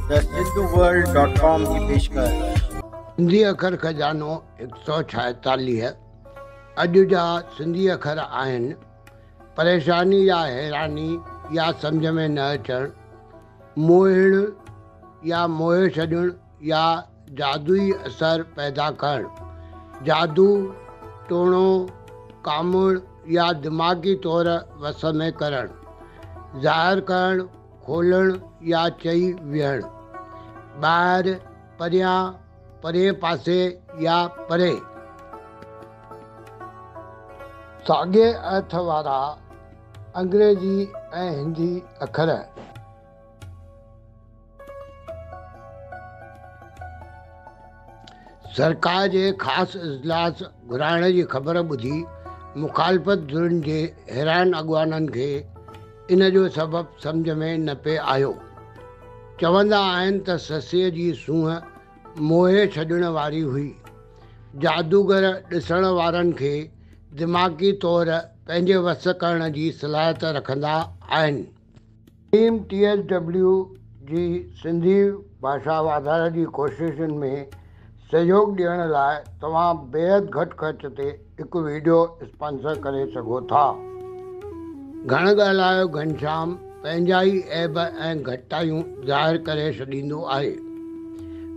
ته Sindhu world dot com جي پيشڪش. سنڌي اکر خزانو هڪ سؤ ڇاهيتاليهه اڄ جا سنڌي اکر آهن پريشاني يا حيراني يا سمجهه ۾ نه اچڻ موهڻ يا موهي ڇڏڻ يا جادوئي اثر پيدا ڪرڻ جادو ٽوڻو ڪاموڙ يا دماغي طور وس ۾ ڪرڻ ظاهر ڪرڻ کولڻ يا چئي ويهڻ. ٻاهر، پريان، پرئين پاسي يا پري. ساڳئي ارٿ وارا انگريزي ۽ هندي اکر. سرڪار جي خاص اجلاس گهرائڻ جي خبر ٻڌي مخالفت ڌرين جي حيران اڳواڻن کي ان جو سبب سمجهه ۾ نه پئي آيو. چوندا آهن ته سسئي جي سونهن موهي ڇڏڻ واري هئي. جادوگر ڏسڻ وارن کي دماغي طور پنهنجي وس ڪرڻ جي صلاحيت رکندا آهن. ٽيم ٽي ايس ڊبليو جي سنڌي ڀاشا واڌاري جي ڪوششن ۾ سهيوڳ ڏيڻ لاء توهان بيحد گهٽ خرچ تي هڪ ويڊيو اسپانسر ڪري سگهو ٿا. گهڻ ڳالهايو گهنشام پنهنجا ئي عيب ۽ گهٽتايون ظاهر ڪري ڇڏيندو آهي.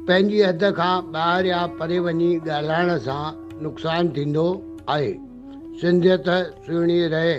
پنهنجي حد کان ٻاهر يا پري وڃي ڳالهائڻ سان نقصان ٿيندو آهي. سنڌيت سهڻي رهي.